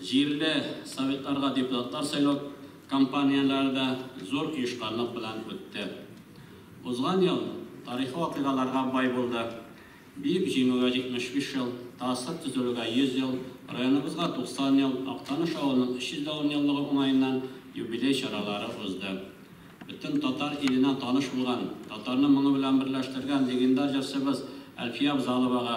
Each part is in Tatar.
Җирле советларга депутатлар сайлау кампанияләре дә зур оешканлык белән үтте. Узган ел тарихи вакыйгаларга бай булды. Бөек Җиңүгә 75 ел, ТАССР төзелүгә 100 ел, районыбызга 90 ел, Актаныш авылының 300 дә унъеллыгы уңаеннан юбилей чаралары узды. Бөтен татар иленә таныш булган, татарны моңы белән берләштергән легендар җырчыбыз Әлфия Авзаловага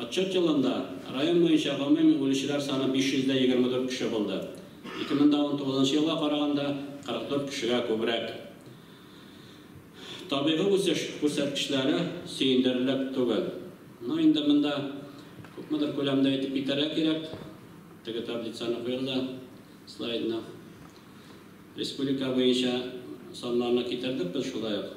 Отчет елында район буенча гомуми үлүчеләр саны 524 кеше булды, 2019 елга караганда 44 кешегә күбрәк. Табигый үсеш күрсәткечләре сөендерерлек түгел. Ну, инде монда күпмедер күләмдә әйтеп китәргә кирәк, теге таблицаны куегыз да слайдны. Республика буенча саннарны китердек без шулай ук.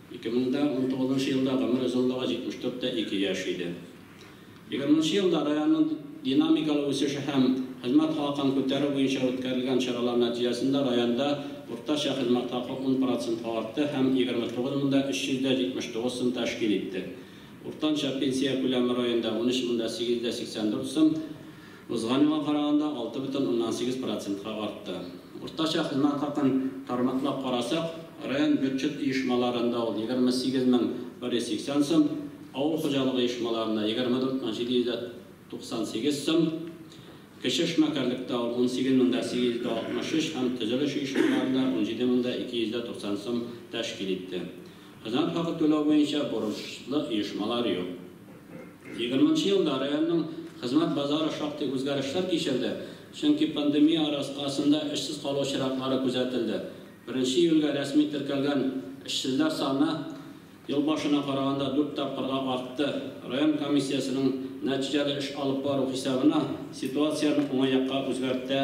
Ике мең дә унтугызынчы елда гомер озынлыгы 74 тә ике яшь иде. Егерменче елда районның динамикалы үсеше һәм хезмәт хакын күтәрү буенча үткәрелгән чаралар нәтиҗәсендә районда уртача хезмәт хакы ун процентка артты һәм 29 мең дә 379 сум тәшкил итте. Уртанча пенсия күләме районда 13 мең дә 884 сум. Узган елга караганда алты бөтен уннан сигез процентка артты. Уртача хезмәт хакын тармаклап карасак, район бюджет оешмаларында ул егерме сигез мең бер йөз сиксән сум, авыл хуҗалыгы оешмаларында егерме дүрт мең җиде йөз дә туксан сигез сум, кече эшмәкәрлектә ул унсигез мең дә сигез йөз дә алтмыш өч һәм төзелеш оешмаларында унҗиде мең дә ике йөз дә туксан сум тәшкил итте. Хезмәт хакы түләү буенча бурычлы оешмалар юк. Егерменче елда районның хезмәт базары шактый үзгәрешләр кичерде, чөнки пандемия аркасында эшсез калу чиратлары күзәтелде. Беренче июльгә рәсми теркәлгән эшсезләр саны ел башына караганда дүрт тапкырга артты. Район комиссиясенең нәтиҗәле эш алып бару хисабына ситуацияне уңай якка үзгәртә.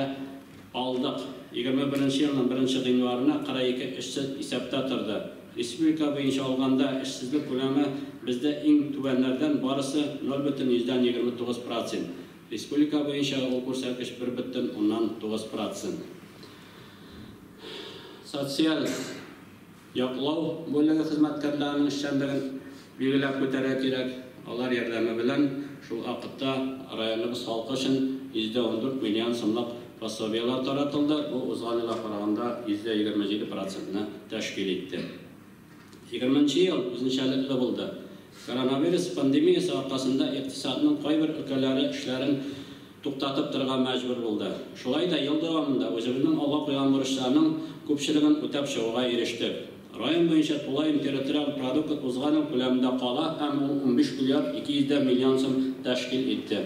Алдык. Егерме беренче елның беренче гыйнварына 42 эшсез исәптә торды. Республика буенча алганда, эшсезлек күләме бездә иң түбәннәрдән, барысы 0 бөтен йөздән егерме тугыз процент. Республика буенча ул күрсәткеч бер бөтен уннан тугыз процент. Социаль Яклау бүлеге хезмәткәрләренең эшчәнлеген билгеләп үтәргә кирәк. Алар ярдәме белән шул вакытта районыбыз халкы өчен 114 миллион сумлык пособиеләр таратылды, бу узган елга караганда 127 процентны тәшкил итте. Егерменче ел үзенчәлекле булды. Коронавирус пандемиясе аркасында икътисадның кайбер өлкәләре эшләрен туктатып торырга мәҗбүр булды. Шулай да ел дәвамында үзебезнең алга куйган бурычларның күпчелеген үтәп чыгуга ирештек. Район буенча тулаем территориаль продукт узган ел күләмендә кала һәм ул унбиш миллиард ике йөз дә миллион сум тәшкил итте.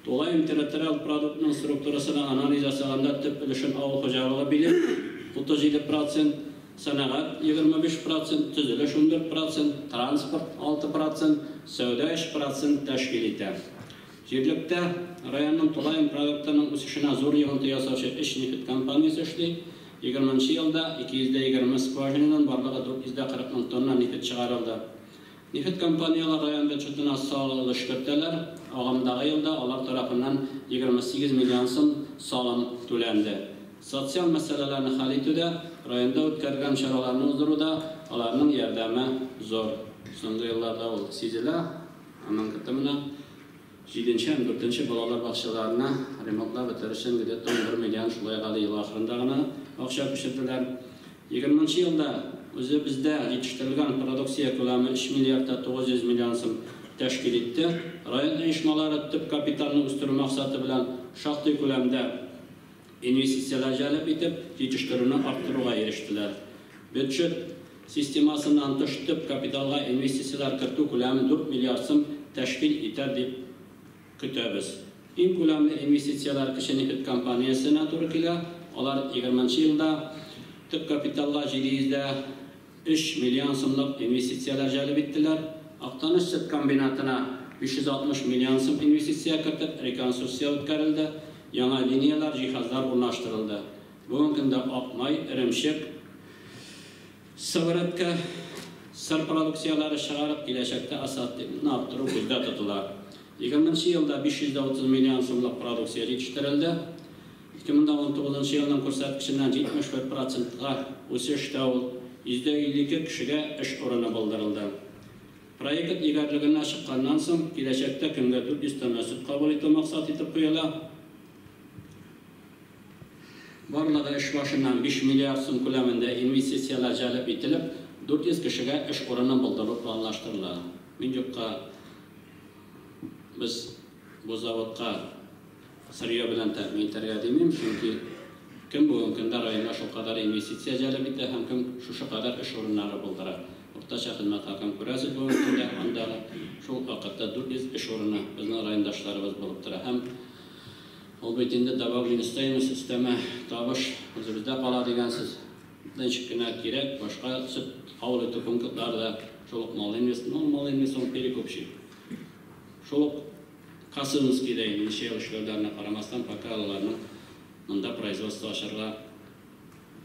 Тулаем территориаль продуктның структурасына анализ ясаганда төп өлешен авыл хуҗалыгы били, утыз җиде процент, сәнәгать, егерме биш процент, төзелеш, ундүрт процент, транспорт, алты процент, сәүдә, өч процент, тәшкил итә. Җирлектә районның тулаем продуктының үсешенә зур йогынты ясаучы өч нефть компаниясе эшли. Егерме нче елда 220 скважинадан барлыгы 440 мең тонна нефть чыгарылды. Нефть компанияләр район бюджетына салым өлеш кертәләр, агымдагы елда алар тарафыннан 28 миллион сум салым түләнде. Социаль мәсьәләләрне хәл итүдә, районда үткәрелгән чараларны уздыруда аларның ярдәме зур. Соңгы елларда ул сизелә. Аннан кытта менә җиденче һәм дүртенче балалар бакчаларына ремонтлап бетерер өчен где-то 11 миллион шулай ук әле ел ахырында гына акча күчерделәр. Егерменче елда үзебездә җитештерелгән продукция күләме 3 миллиард та 900 миллион сум тәшкил итте. Район оешмалары төп капиталны үстерү максаты белән шактый күләмдә инвестицияләр җәлеп итеп, җитештерүне арттыруга ирештеләр. Бюджет системасыннан тыш төп капиталга инвестицияләр кертү күләме дүрт миллиард сум тәшкил итәр дип көтәбез. Иң күләмле инвестицияләр кече нефть компаниясенә туры килә, алар егерменчы елда төп капиталга 700 дә. Өч миллион сумлык инвестицияләр җәлеп иттеләр. Актаныш сөт комбинатына 560 миллион сум инвестиция кертеп, реконструкция үткәрелде, яңа линияләр, җиһазлар урнаштырылды. Бүгенге көндә ак май, эремчек, сыворотка, сыр продукцияләре чыгарып, киләчәктә ассортиментны арттыру күздә тотыла. Егерменче елда 530 миллион сумлык продукция җитештерелде. Ике мең дә унтугызынчы елның күрсәткеченнән 74 процентка үсеш тә ул, 152 кешегә эш урыны булдырылды. Проект игәрлегенә чыкканнан соң, киләчәктә көнгә 400 тонна сөт кабул итү максат итеп куела. Барлыгы эш башына 5 миллиард сум күләмендә инвестицияләр җәлеп ителеп, 400 кешегә эш урыны булдыру планлаштырыла. Мин юкка без бу заводка. Сырье белән тәэмин итәргә димим, чөнки кем бүгенге көндә районга шулкадәр инвестиция җәлеп итә һәм кем шушы кадәр эш урыннары булдыра? Уртача хезмәт хакын күрәсез бүгенге көндә, анда шул ук вакытта 400 эш урыны безнең райондашларыбыз булып тора һәм ул бит инде добавленная стоимость, өстәмә табыш үзебездә кала дигәнсез. Ничек кенә кирәк, башка сөт кабул итү пунктлары да шул ук Малый инвест, ну, Малый инвест ул перекупщик. Шул ук Касыновскийда инде ничә ел эшләүләренә карамастан, пока алаларның монда производство ачарга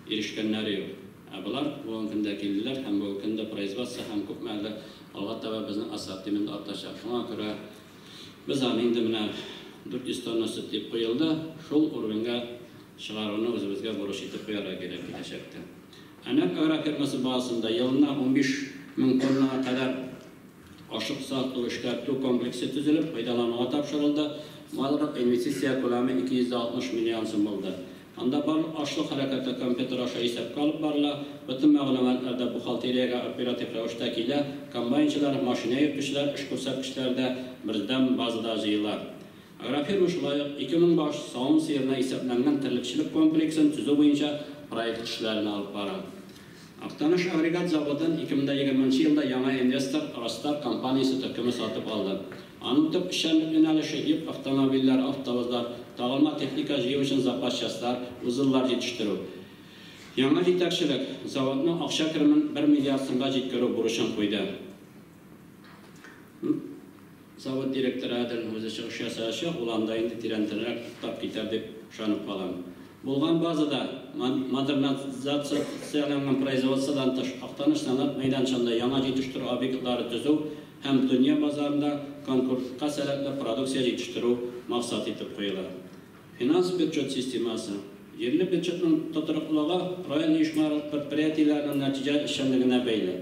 ирешкәннәре юк. Ә болар бүген көн дә килделәр һәм бүген көн дә производство һәм күпме әле алга таба безнең ассортимент артачак. Шуңа күрә без аны инде менә 400 тонна сөт дип куелды, шул уровеньга чыгаруны үзебезгә бурыч итеп куярга кирәк киләчәктә. Әнәк агрофирмасы базасында елына унбиш мең тоннага кадәр Ашыкса, ту эшкәртү комплексы төзелеп, файдалануга тапшырылды. Барлык инвестиция күләме 260 миллион сум булды. Анда барлык ашлык хәрәкәте компьютер аша исәпкә алып барыла, бөтен мәгълүматлар да бухгалтериягә оператив рәвештә килә, комбайнчылар, машина йөртүчеләр эш күрсәткечләре дә бердәм базада җыела. Агрофирма шулай ук 2000 баш савым сыерына исәпләнгән терлекчелек комплексын төзү буенча проект эшләрен алып бара. Актаныш агрегат заводын 2020 нчы елда яңа инвестор Ростар компаниясе төркеме сатып алды. Аның төп эшчәнлек юнәлеше, йөк автомобильләре, автовозлар, тагылма техника җыю өчен запас частьлар, узеллар җитештерү. Яңа җитәкчелек заводның акча керемен бер миллиард сумга җиткерү бурычын куйды. Завод директоры Адел үзе чыгыш ясаячак, ул анда инде тирәнтенрәк туктап китәр дип ышанып калам. Булган базада, модернизацияләнгән производстводан тыш, Актаныш сәнгать мәйданчыгында яңа җитештерү объектлары төзү һәм дөнья базарында конкурентка сәләтле продукция җитештерү максат итеп куела. Финанс-бюджет системасы. Җирле бюджетның тотрыклылыгы район оешмалары-предприятиеләренең нәтиҗәле эшчәнлегенә бәйле.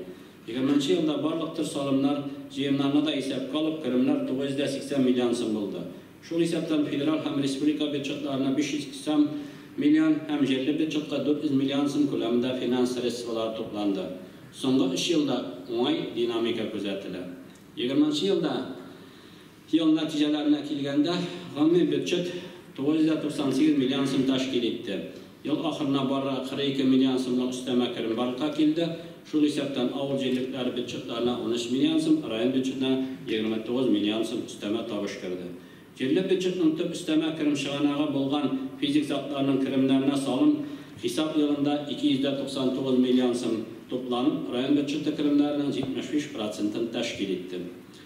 Егерменче елда барлык төр салымнар, җыемнарны да исәпкә алып, керемнәр 980 миллион сум булды. Шул исәптән федераль һәм республика бюджетларына 580 миллион һәм җирле бюджетка 400 миллион сум күләмендә финанс средстволары тупланды. Соңгы өч елда уңай динамика күзәтелә. Егерменче елда. Ел нәтиҗәләренә килгәндә, гомуми бюджет 998 миллион сум тәшкил итте. Ел ахырына барырга 42 миллион сумлык өстәмә керем барлыкка килде. Шул исәптән авыл җирлекләре бюджетларына 13 миллион сум, район бюджетына 29 миллион сум өстәмә табыш керде. Җирле бюджетның төп өстәмә керем чыганагы булган физик затларның керемнәренә салым хисап елында 299 миллион сум тупланып, район бюджеты керемнәренең 75 процентын тәшкил итте.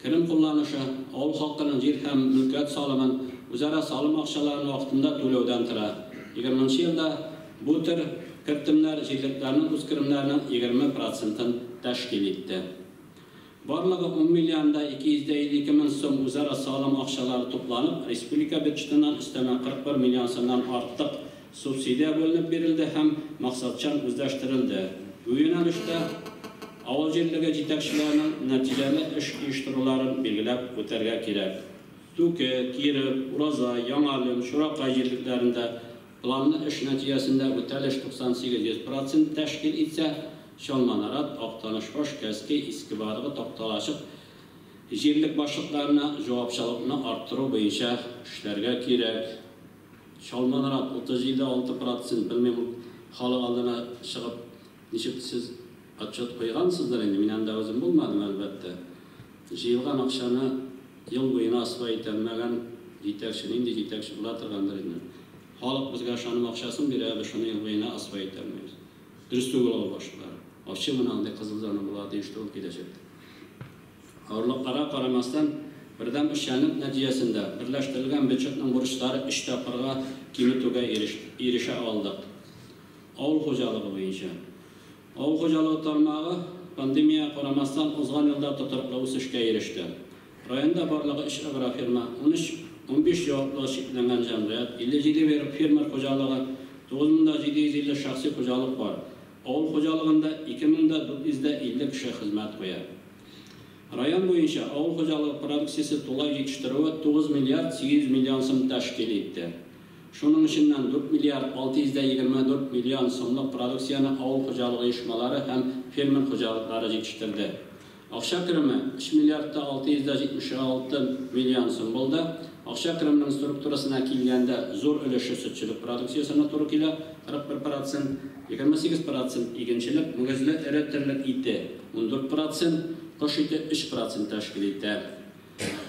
Телем кулланышы авыл халкының җир һәм мөлкәт салымын, үзара салым акчаларын вакытында түләүдән тора. Егерменче елда бу төр кертемнәр җирлекләрнең үзкеремнәренең егерме процентын тәшкил итте. Барлыгы ун миллион да ике йөз дә илле ике мең сум үзара салым акчалары тупланып, республика бюджетыннан өстәмә кырык бер миллион сумнан артык Субсидия бүленеп бирелде һәм максатчан үзләштерелде. Бу юнәлештә авыл җирлеге җитәкчеләренең нәтиҗәле эш оештыруларын билгеләп үтәргә кирәк. Түке, Киров, Ураза, Яңалем, Чуракай җирлекләрендә планлы эш нәтиҗәсендә үтәлеш 98 100 процент тәшкил итсә, Чалманарат, Актанышбаш, Кәскәй, Иске Баргы, Такталачык җирлек башлыкларына җавапчалыкны арттыру буенча эшләргә кирәк. Чалманрак, 37 алты процент, белмим, халык алдына чыгып, ничек сез отчет куйгансыздыр инде, мин анда үзем булмадым, әлбәттә. Җыелган акчаны ел буена асфай итә алмаган җитәкче, нинди җитәкче була торгандыр инде. Халык безгә ышаным акчасын бирә, ә без шуны ел буена асфай итә алмыйбыз. Дөрес түгел ул башкалар. Ачы мына андый кызыл зона була, диештер ул киләчәктә. Авырлыкларга карамастан, бердәм эшчәнлек нәтиҗәсендә берләштерелгән бюджетның бурычлары өч тапкырга киметүгә ирешә алдык. Авыл хуҗалыгы буенча. Авыл хуҗалыгы тармагы, пандемиягә карамастан, узган елда тотрыклы үсешкә иреште. Районда барлыгы өч агрофирма, унөч, унбиш җаваплылыгы чикләнгән җәмгыять, 57 фермер хуҗалыгы, 9750 шәхси хуҗалык бар. Авыл хуҗалыгында 2450 кеше хезмәт куя. Район буенча авыл хуҗалыгы продукциясе тулай җитештерүе 9 миллиард 800 миллион сум тәшкил итте. Шуның эченнән 4 миллиард 624 миллион сумлык продукцияне авыл хуҗалыгы оешмалары һәм фермер хуҗалыклары җитештерде. Акча кереме, өч миллиард та 676 миллион сум булды. Акча керемнең структурасына килгәндә, зур өлеше сөтчелек продукциясенә туры килә, 41 процент, 28 процент, игенчелек, мөгезле эре терлек ите, ундүрт процент, кош ите өч процент тәшкил итә.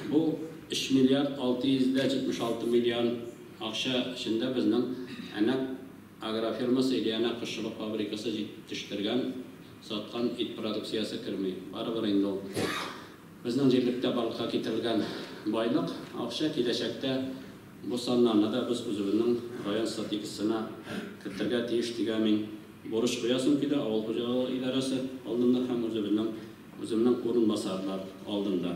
Бу өч миллиард 676 миллион акча эчендә безнең әнә. Агрофирма Сыйлиана кошчылык фабрикасы җитештергән, саткан ит продукциясе керми. Барыбер инде ул безнең җирлектә барлыкка китерелгән байлык, акча. Киләчәктә бу саннарны да без үзебезнең район стратегиясенә кертергә тиеш дигән мин бурыч куясым килә авыл хуҗалыгы идарәсе алдында һәм үзебезнең үземнең урынбасарлар алдында.